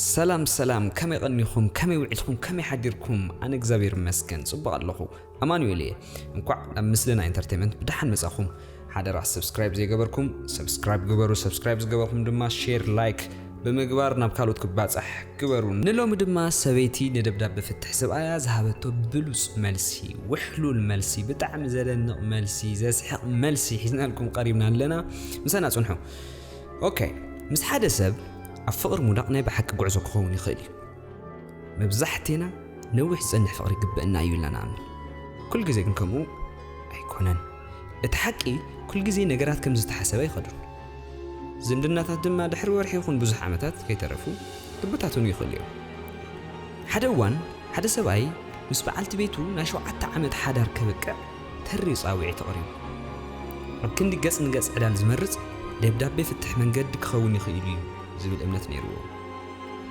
ሰላም ሰላም ከመይ ቐኒኹም ከመይ ውዒልኩም ከመይ ሓዲርኩም ኣነ እግዚኣብሔር ይመስገን ጽቡቕ ኣለኹ ኣማኑኤል እየ እንኳዕ ናብ ምስልና ኢንተርቴንመንት ብደሓን መጻኹም ሓደራ ሰብስክራይብ ዘይገበርኩም ሰብስክራይብ ግበሩ ሰብስክራይብ ዝገበርኩም ድማ ሼር ላይክ ብምግባር ናብ ካልኦት ክባጻሕ ግበሩ ንሎሚ ድማ ሰበይቲ ንደብዳብ ብፍትሕ ሰብኣያ ዝሃበቶ ብሉጽ መልሲ ውሕሉል መልሲ ብጣዕሚ ዘደንቕ መልሲ ዘስሕቕ መልሲ ሒዝናልኩም ቀሪብና ኣለና ምሳና ጽንሑ ኦከ ምስ ሓደ ሰብ ኣብ ፍቕሪ ምውዳቕ ናይ ብሓቂ ጉዕዞ ክኸውን ይኽእል እዩ። መብዛሕቴና ነዊሕ ዝጸንሕ ፍቕሪ ይግበእና እዩ ኢልና ንኣምን። ኩል ግዜ ግን ከምኡ ኣይኮነን። እቲ ሓቂ ኩል ግዜ ነገራት ከም ዝተሓሰበ ኣይኸዱን። ዝምድናታት ድማ ድሕሪ ወርሒ ይኹን ብዙሕ ዓመታት ከይተረፉ ክብታትኑ ይኽእሉ እዮም። ሓደ እዋን ሓደ ሰብኣይ ምስ በዓልቲ ቤቱ ናይ ሸውዓተ ዓመት ሓዳር ከብቅዕ ተሪር ጻውዒት ኣቕሪቡ። ኣብ ክንዲ ገጽ ንገጽ ዕላል ዝመርጽ፣ ደብዳቤ ፍትሕ መንገዲ ክኸውን ይኽእል'ዩ ዝብል እምነት ነይሩዎ።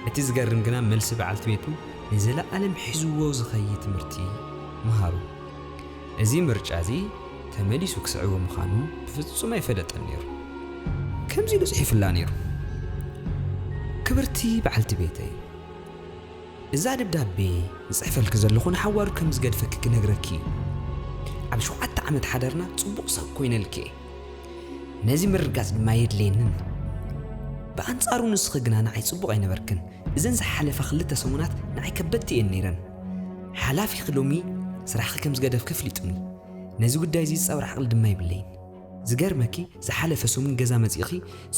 እቲ ዝገርም ግና መልሲ በዓልቲ ቤቱ ንዘለኣለም ሒዙዎ ዝኸይድ ትምህርቲ ምሃሩ። እዚ ምርጫ'ዚ ተመሊሱ ክስዕቦ ምዃኑ ብፍጹም ኣይፈለጠን ነይሩ። ከምዚ ኢሉ ጽሒፉላ ነይሩ፣ ክብርቲ በዓልቲ ቤተይ! እዛ ደብዳቤ ዝጽሕፈልኪ ዘለኹ ንሓዋሩ ከም ዝገድፈኪ ክነግረኪ እዩ። ኣብ ሸውዓተ ዓመት ሓዳርና ጽቡቕ ሰብ ኮይነልኪ እየ። ነዚ ምርግጋጽ ድማ የድልየኒ ኣሎ። ብኣንጻሩ ንስኺ ግና ንዓይ ጽቡቕ ኣይነበርክን። እዘን ዝሓለፋ ክልተ ሰሙናት ንዓይ ከበድቲ እየን ነይረን። ሓላፊኺ ሎሚ ስራሕኺ ከም ዝገደፍኪ ኣፍሊጡኒ። ነዚ ጉዳይ እዚ ዝጻወር ዓቕሊ ድማ የብለይን። ዝገርመኪ ዝሓለፈ ሰሙን ገዛ መጺእኺ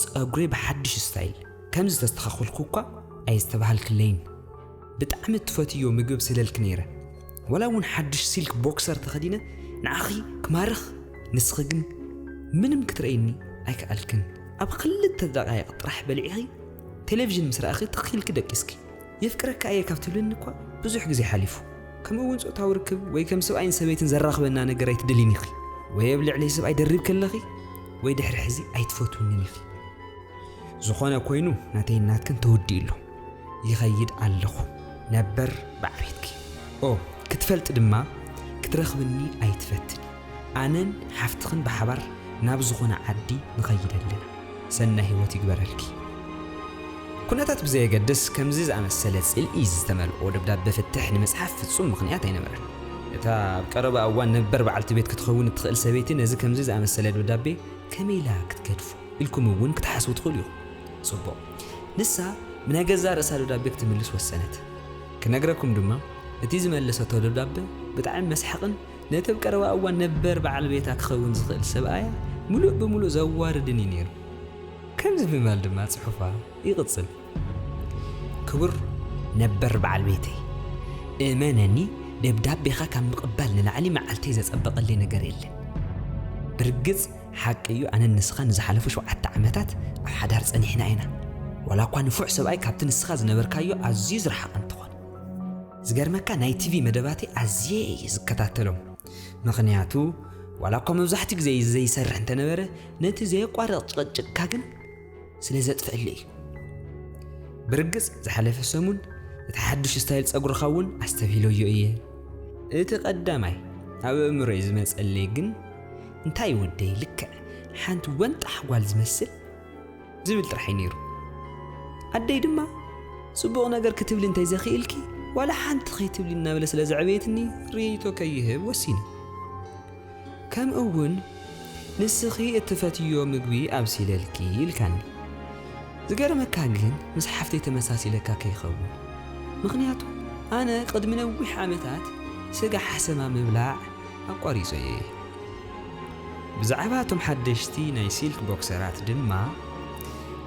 ጸጉረይ ብሓድሽ ስታይል፣ ከም ዝተስተኻኹልኩ እኳ ኣየስተባሃልክለይን ብጣዕሚ እትፈትይዮ ምግብ ስለልኪ ነይረ ዋላ እውን ሓዱሽ ሲልክ ቦክሰር ተኸዲነ ንዓኺ ክማርኽ ንስኺ ግን ምንም ክትረይኒ ኣይከኣልክን ኣብ ክልተ ደቓይቕ ጥራሕ በሊዕኺ ቴሌቭዥን ምስ ረኣኺ ትኽ ኢልኪ ደቂስኪ የፍቅረካ እየ ካብ ትብልኒ እኳ ብዙሕ ግዜ ሓሊፉ ከምኡ እውን ፆታዊ ርክብ ወይ ከም ሰብኣይን ሰበይትን ዘራኽበና ነገር ኣይትደልይን ኢኺ ወይ ኣብ ልዕለይ ሰብኣይ ደሪብኪ ኣለኺ ወይ ድሕሪ ሕዚ ኣይትፈትውንን ኢኺ ዝኾነ ኮይኑ ናተይን ናትክን ተወዲኡ ኣሎ ይኸይድ ኣለኹ ነበር ብዓቤትኪ ኦ ክትፈልጢ ድማ ክትረኽብኒ ኣይትፈትን ኣነን ሓፍትኽን ብሓባር ናብ ዝኾነ ዓዲ ንኸይድ ኣለና ሰናይ ህይወት ይግበረልኪ ኩነታት ብዘየገድስ ከምዚ ዝኣመሰለ ጽልኢ ዝተመልኦ ደብዳቤ ፍትሕ ንምጽሓፍ ፍጹም ምኽንያት ኣይነበረን እታ ኣብ ቀረባ እዋን ነበር በዓልቲ ቤት ክትኸውን እትኽእል ሰበይቲ ነዚ ከምዚ ዝኣመሰለ ደብዳቤ ከመይ ኢላ ክትገድፎ ኢልኩም እውን ክትሓስቡ ትኽእሉ ኢኹም። ጽቡቕ። ንሳ ብናይ ገዛእ ርእሳ ደብዳቤ ክትምልስ ወሰነት። ክነግረኩም ድማ፣ እቲ ዝመለሰቶ ደብዳበ ብጣዕሚ መስሓቕን ነቲ ኣብ ቀረባ እዋን ነበር በዓል ቤታ ክኸውን ዝኽእል ሰብኣያ ምሉእ ብምሉእ ዘዋርድን እዩ ነይሩ። ከምዚ ብምባል ድማ ጽሑፋ ይቕጽል። ክቡር ነበር በዓል ቤተይ፣ እመነኒ ደብዳቤኻ ካብ ምቕባል ንላዕሊ መዓልተይ ዘጸበቐለይ ነገር የለን። ብርግጽ፣ ሓቂ እዩ ኣነን ንስኻን ንዝሓለፉ ሸውዓተ ዓመታት ኣብ ሓዳር ጸኒሕና ኢና፣ ዋላ እኳ ንፉዕ ሰብኣይ ካብቲ ንስኻ ዝነበርካዮ ኣዝዩ ዝረሓቐ እንተኾነ። ዝገርመካ ናይ ቲቪ መደባተይ ኣዝየ እየ ዝከታተሎም፣ ምኽንያቱ ዋላ እኳ መብዛሕትኡ ግዜ ዘይሰርሕ እንተነበረ ነቲ ዘየቋርቕ ጭቕጭቕካ ግን ስለ ዘጥፍኣለይ እዩ። ብርግጽ ዝሓለፈ ሰሙን እቲ ሓዱሽ ስታይል ጸጉርኻ እውን ኣስተብሂለዮ እየ። እቲ ቀዳማይ ኣብ ኣእምሮይ ዝመጸለይ ግን እንታይ ወደይ ልክዕ ሓንቲ ወንጣሕ ጓል ዝመስል ዝብል ጥራሕ'ዩ ነይሩ። ኣደይ ድማ ጽቡቕ ነገር ክትብሊ እንተይዘኺእልኪ ዋላ ሓንቲ ከይትብሊ እናበለ ስለ ዘዕበየትኒ ርእይቶ ከይህብ ወሲነ። ከምኡ'ውን ንስኺ እትፈትይዮ ምግቢ ኣብሲለልኪ ኢልካኒ። ዝገርመካ ግን ምስ ሓፍተይ ተመሳሲለካ ከይኸውን። ምኽንያቱ ኣነ ቅድሚ ነዊሕ ዓመታት ስጋ ሓሰማ ምብላዕ፣ ኣቋሪጾ እየ። ብዛዕባ እቶም ሓደሽቲ ናይ ሲልክ ቦክሰራት ድማ፣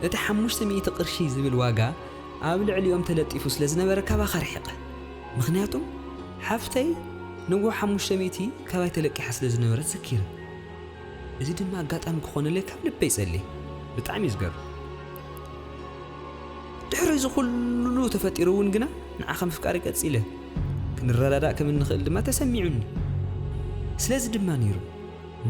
እቲ ሓሙሽተ ሚእቲ ቅርሺ ዝብል ዋጋ ኣብ ልዕሊኦም ተለጢፉ ስለ ዝነበረ ካባኻ ርሒቐ። ምኽንያቱ ሓፍተይ ንግሆ ሓሙሽተ ሚእቲ ካባይ ተለቂሓ ስለ ዝነበረት ዘኪረ። እዚ ድማ ኣጋጣሚ ክኾነለይ ካብ ልበይ ጸልየ። ብጣዕሚ እዩ ዝገርም። ድሕሪ እዚ ኩሉ ተፈጢሩ እውን ግና ንዓኻ ምፍቃሪ ቀጺለ፣ ክንረዳዳእ ከም እንኽእል ድማ ተሰሚዑኒ። ስለዚ ድማ ነይሩ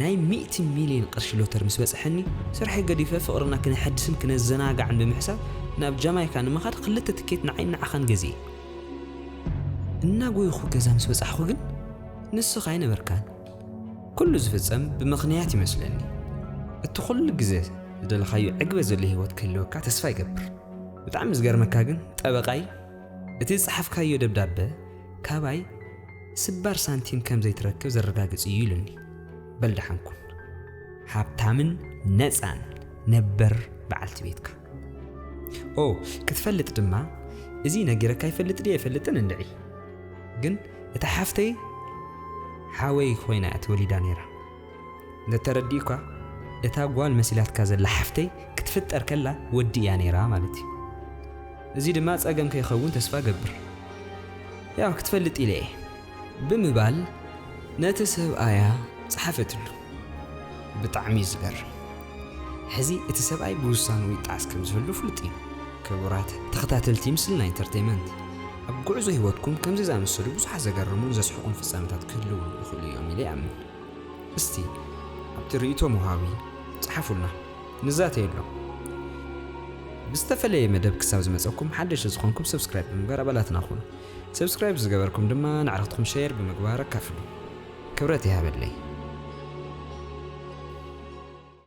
ናይ ሚእቲ ሚልዮን ቅርሺ ሎተሪ ምስ በጽሐኒ ስርሐይ ገዲፈ ፍቕርና ክነሐድስን ክነዘናጋዕን ብምሕሳብ ናብ ጃማይካ ንምኻድ ክልተ ትኬት ንዓይን ንዓኻን ገዚኤ እናጎይኹ ገዛ ምስ በጻሕኹ ግን ንስኻ ኣይነበርካን። ኩሉ ዝፍጸም ብምኽንያት ይመስለኒ እቲ ኩሉ ግዘ ዝደለኻዮ ዕግበት ዘሎ ሂወት ክህልወካ ተስፋ ይገብር ብጣዕሚ ዝገርመካ ግን ጠበቃይ እቲ ዝጸሓፍካዮ ደብዳበ ካባይ ስባር ሳንቲም ከም ዘይትረክብ ዘረጋግጽ እዩ ኢሉኒ በል ደሓን ኩን ሃብታምን ነጻን ነበር በዓልቲ ቤትካ ኦ ክትፈልጥ ድማ እዚ ነጊረካ ይፈልጥ ድየ ኣይፈልጥን እንድዒ ግን እታ ሓፍተይ ሓወይ ኮይና እያ ተወሊዳ ነይራ። እንተተረዲኡካ እታ ጓል መሲላትካ ዘላ ሓፍተይ ክትፍጠር ከላ ወዲ እያ ነይራ ማለት እዩ። እዚ ድማ ጸገም ከይኸውን ተስፋ እገብር። ያው ክትፈልጥ ኢለ እየ። ብምባል ነቲ ሰብኣያ ጸሓፈትሉ። ብጣዕሚ እዩ ዝገርም ሕዚ እቲ ሰብኣይ ብውሳንኡ ይጣዕስ ከም ዝህሉ ፍሉጥ እዩ። ክቡራት ተኸታተልቲ ምስልና ኢንተርተይመንት ኣብ ጉዕዞ ህይወትኩም ከምዚ ዝኣመሰሉ ብዙሓት ዘገርሙን ዘስሕቁን ፍጻመታት ክህልዉ ይኽእሉ እዮም ኢለ ይኣምን። እስቲ ኣብቲ ርእይቶ መውሃቢ ጽሓፉልና ንዛተየሎም። ብዝተፈለየ መደብ ክሳብ ዝመጸኩም ሓደሽቲ ዝኾንኩም ሰብስክራይብ ብምግባር ኣባላትና ኩኑ። ሰብስክራይብ ዝገበርኩም ድማ ነዕርኽትኩም ሸየር ብምግባር ኣካፍሉ። ክብረት ይሃበለይ።